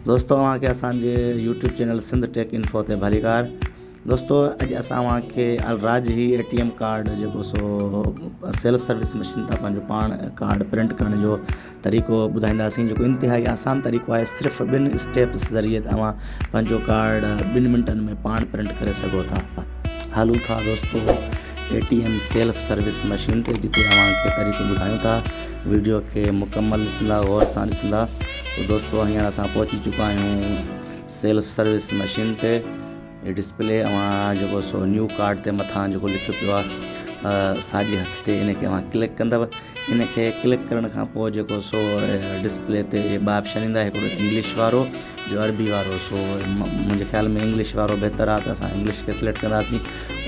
دوستو اوهان کي اسان جي YouTube channel Sindh Tech Info تي ڀليڪار دوستو اڄ اسان اوهان کي Al Rajhi A T M card جيڪو سو سيلف سروس مشين تان پنهنجو پاڻ ڪارڊ پرنٽ ڪرڻ جو طريقو ٻڌائينداسين جيڪو انتهائي آسان طريقو آهي صرف ٻن اسٽيپس ذريعي ته اوهان پنهنجو ڪارڊ ٻن منٽن ۾ پاڻ پرنٽ ڪري سگهو ٿا هلو ٿا دوستو A T M self service machine تي جتي اوهان کي طريقو ٻڌايون ٿا ويڊيو کي مڪمل ڏسندا غور سان ڏسندا ته دوستو هينئر اسان پهچي چڪا آهيون سيلف سروس مشين تي هي ڊسپلي اوهان جيڪو سو نيو ڪارڊ تي مٿان جيڪو لکيو پيو آهي ساڄي هٿ تي ان کي اوهان ڪلڪ ڪندو ان کي ڪلڪ ڪرڻ کان پوء جيڪو سو ڊسپلي تي ٻ آپشن ايندا هڪڙو انگلش وارو ٻيو عربي وارو سو منهنجي خيال ۾ انگلش وارو بهتر آهي ته اسان انگلش کي سليڪٽ ڪنداسين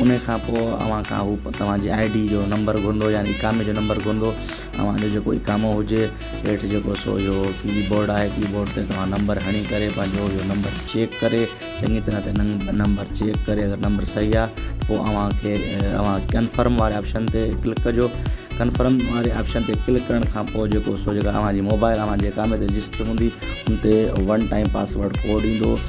انهي کان پوء اوهان کان هو توهان جي آئي ڊي جو نمبر گهرندو يعني اقامي جو نمبر گهرندو اوهان جو جيڪو اقامو هجي هيٺ جيڪو سو اهو ڪي بورڊ آهي ڪي بورڊ تي توهان نمبر هڻي ڪري پنهنجو اهو نمبر چيڪ ڪري چڱي طرح تي نمبر چيڪ ڪري اگر نمبر صحيح آهي پوء اوهان کي اوهان ڪنفرم واري آپشن تي ڪلڪ ڪجو ڪنفرم واري آپشن تي ڪلڪ ڪرڻ کان پوء جيڪو سو جيڪا اوهان جي موبائل اوهان جي اقامي تي رجسٽر هوندي ان تي ون ٽائم پاسورڊ ڪوڊ ايندو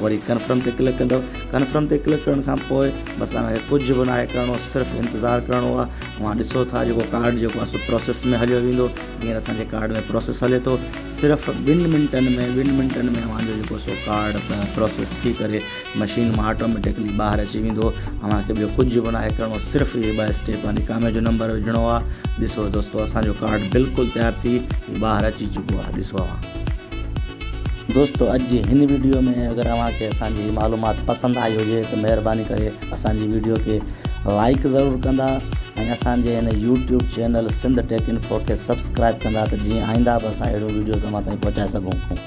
وري ڪنفرم تي ڪلڪ ڪندؤ ڪنفرم تي ڪلڪ ڪرڻ کان پوء بس تنهن کي ڪجهه به ناهي ڪرڻو صرف انتظار ڪرڻو آ اوهان ڏسو ٿا جيڪو ڪارڊ جيڪو اسو پروسيس ۾ هليو ويندو هينئر اسان جي ڪارڊ ۾ پروسيس هلي ٿو صرف ٻن منٽن ۾ ٻن منٽن ۾ اوهان جو جيڪو سو ڪارڊ پروسيس ٿي ڪري مشين مان آٽوميٽڪلي ٻاهر اچي ويندو اوهان کي ٻيو ڪجهه به ناهي ڪرڻو صرف هي ٻه اسٽيپ آ نڪامي جو نمبر وجهڻو آ ڏسو دوستو اسان جو ڪارڊ بلڪل تيار ٿي ٻاهر اچي چڪو آ ڏسو اوهان دوستو اڄ جي هن ويڊيو ۾ اگر اوهان کي اسان جي معلومات پسند آئي هجي ته مهرباني ڪري اسان جي ويڊيو کي لائڪ ضرور ڪندا ۽ اسان جي هن YouTube channel Sindh Tech Info کي سبسڪرائب ڪندا ته جيئن آئنده به اسان اهڙيون ويڊيوز اوهان تائين پهچائي سگهون